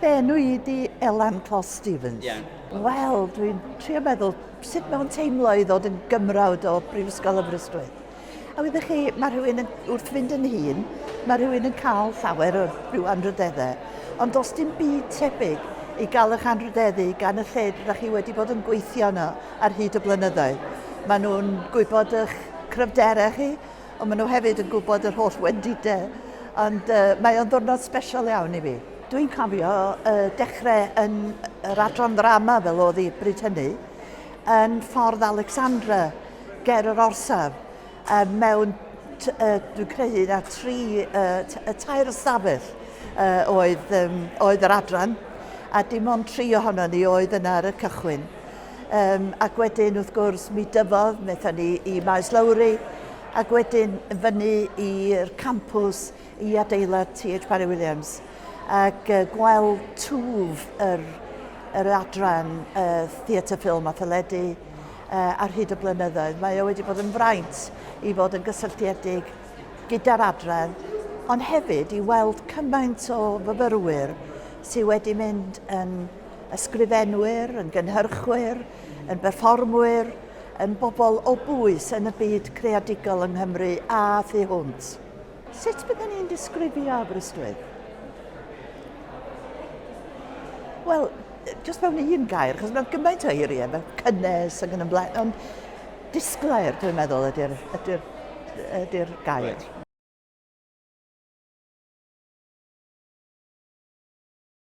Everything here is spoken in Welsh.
Fy enw i di Elan Clos Stevens. Yeah. Wel, dwi'n trio meddwl sut mae'n teimlo i ddod yn gymrawd o Brifysgol Aberystwyth. A wydych chi, mae rhywun yn, wrth fynd yn hun, mae rhywun yn cael llawer o rhyw anrhydeddau. Ond does dim byd tebyg i gael eich anrhydeddu gan y lle rydych chi wedi bod yn gweithio yno ar hyd y blynyddoedd. Maen nhw'n gwybod eich cryfderau chi, ond maen nhw hefyd yn gwybod yr holl wendidau, ond uh, mae o'n ddwrnod special iawn i fi. Dwi'n cofio uh, dechrau yn yr adran ddrama fel oedd hi bryd hynny, yn ffordd Alexandra, ger yr orsaf, uh, mewn, uh, dwi'n credu, na tri, uh, y tair ystafell uh, oedd, um, oedd yr adran, a dim ond tri ohono ni oedd yna ar y cychwyn. Um, ac wedyn, wrth gwrs, mi dyfodd, wnaethon ni i Maes Lowry, ac wedyn fyny i'r campus i adeilad T.H. Parry Williams, ac uh, gweld twf yr, yr adran uh, theatr ffilm a theledu uh, ar hyd y blynyddoedd. Mae o wedi bod yn fraint i fod yn gysylltiedig gyda'r adran, ond hefyd i weld cymaint o fyfyrwyr sydd wedi mynd yn ysgrifenwyr, yn gynhyrchwyr, yn berfformwyr, yn bobl o bwys yn y byd creadigol yng Nghymru a thu hwnt. Sut bydden ni'n disgrifio Aberystwyth? Wel, jyst mewn un gair, chos mae gymaint o eiriau, mae cynnes ac yn ymlaen, ond disglair, dwi'n meddwl, ydy'r ydy ydy gair. Right.